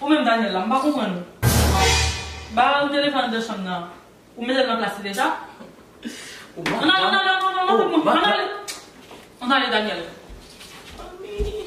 Ou menm Daniel la m pa konprann ou Ba ou telefòn de chanm nan Ou metel nan plas li deja An ale an ale an ale An ale Daniel Anmeyy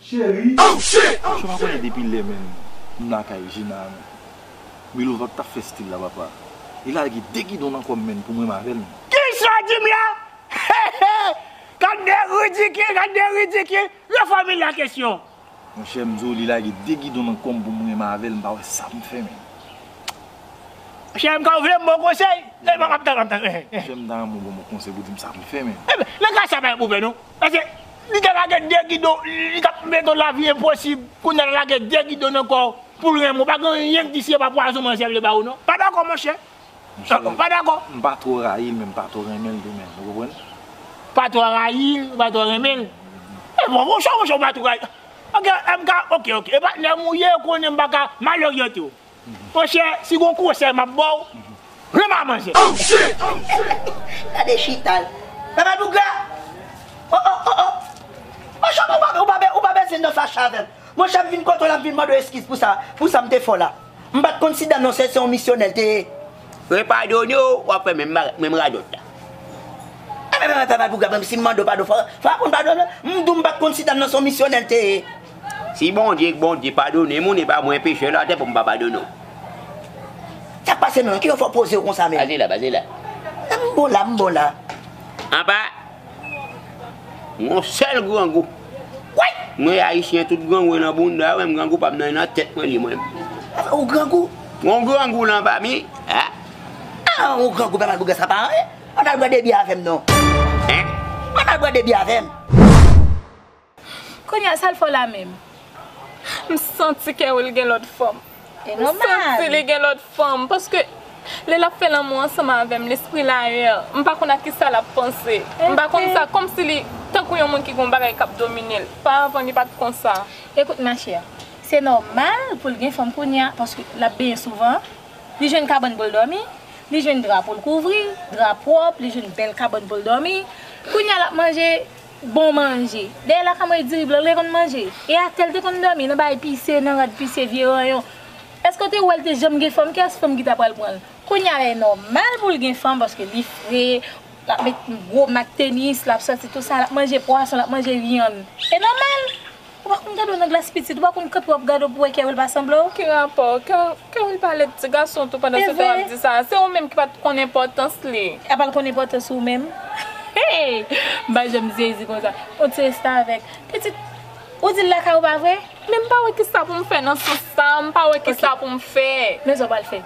Cheri. Oh shit! Msye pa konnen depi lè menm m lakay Gina a menm. Milova k tap fè stil la papa. Li lage 2 gidon nan kòm menn pou mwen m avè l menm. Ki istwa Jimmy la? Heheh! Gad de ridikil, gad de ridikil! Refòmil la kesyon. Monchè m di w li lage 2 gidon nan kòm pou mwen m avè l m pa wè sa m fè menm. Cheri m ka ou vle m ba w konsèy? Map tann, map tann. Monchè m ta renmen w ban m yon konsèy pou di m sa pou m fè menm. Nan ka sa pa gen pwoblèm non. Paske. Li te lage 2 gidon li tap mete w lavi enposib kounya lap lage 2 gidon nan kòw poul renmen w pa gen anyen ki di si e pa pwazon manzè vle ba ou non pa dakò monchè ou pa dakò. M pa twò rayi l men m pa twò renmen l tou menm ou konprann. Pa twò rayi l ou pa twò renmen l e bon monchè ou pa twò rayi ok MK ok ok e patnè m ou ye ou konnen m paka mal oryante w. Monchè si gon konsèy map baw Rema manzè. Oh shit! Gade chita l. Bebe dougla Oh oh oh oh Monchè ou pa ou pa ou pa bezwen nan fache avèm Monchè m vin kote w la m vin mande w eskiz pou sa pou sa m te fè w la M pat konn si Dano se se yon misyonè l te ye Mwen padone w wap fè menm bagay menm radòt la Bebe dougla menm si m mande w padon fò w aprann padone m M di w m pat konn si Dano se yon misyonè l te ye Si Bondye k Bondye padone moun epa mwen pechè latè poum pa padone w. Sak pase menm kiyès wap pozew konsa menm. Baze la baze la. M bon la m bon la. Apa yon sèl grangou. Woy! Mwen ayisyen tout grangou e nan bounda menm grangou pam nan e nan tèt mwen li mwen menm. Apa ou grangou? Yon grangou lan pa mi ah. Ah ou grangou papa bouga sa pa anyen. Ann al bwè de byè avèm non. Hein? Ann al bwè de byè avèm. Kounya sal fè w la menm. M santi kè wil gen lòt fanm. E nòmal. M santi li gen lòt fanm paske lè lap fè lanmou ansanm avèm lespri l ayè, m pa konn a kisa lap panse. M pa konn sa kòmsi li tankou yon moun ki gen yon bagay kap domine l. Fwa avan li pat konsa. Écoute ma chère, se nòmal pou l gen fanm kounya paske lap benyen souvan, li jwenn kabann pou l dòmi, li jwenn dra pou l kouvri, dra pwòp, li jwenn bèl kabann pou l dòmi. Kounya lap manje Bon manje. Dèyè lakay mwen e diri blan li te konn manje. E atè li te konn dòmi, nan bagay pise, nan rad pise, vye ranyon. Èske w te wè li te janm gen fanm? Kiyès fanm ki ta pral pran l? Kounye a lè nòmal pou l gen fanm paske li fre, l ap met gwo mak tenis, l ap soti tou sa, l ap manje pwason, l ap manje vyann. E nòmal! Ou pa konn gade w nan glas pitit, ou pa konn kanpe wap gade w pou wè kè wil pa sanble w. Ki rapò? Kè wil pale ak ti gason tou pandan se tan wap di sa. Se ou menm ki pat konn enpòtans li. Apa l konn enpòtans ou menm? Hey! M pa janm sezi konsa. On ti restavèk. Pitit, ou di l lakay ou pa vre? Men m pa wè kisa pou m fè nan sans sa, m pa wè kisa pou m fè. Men sa w pral fè.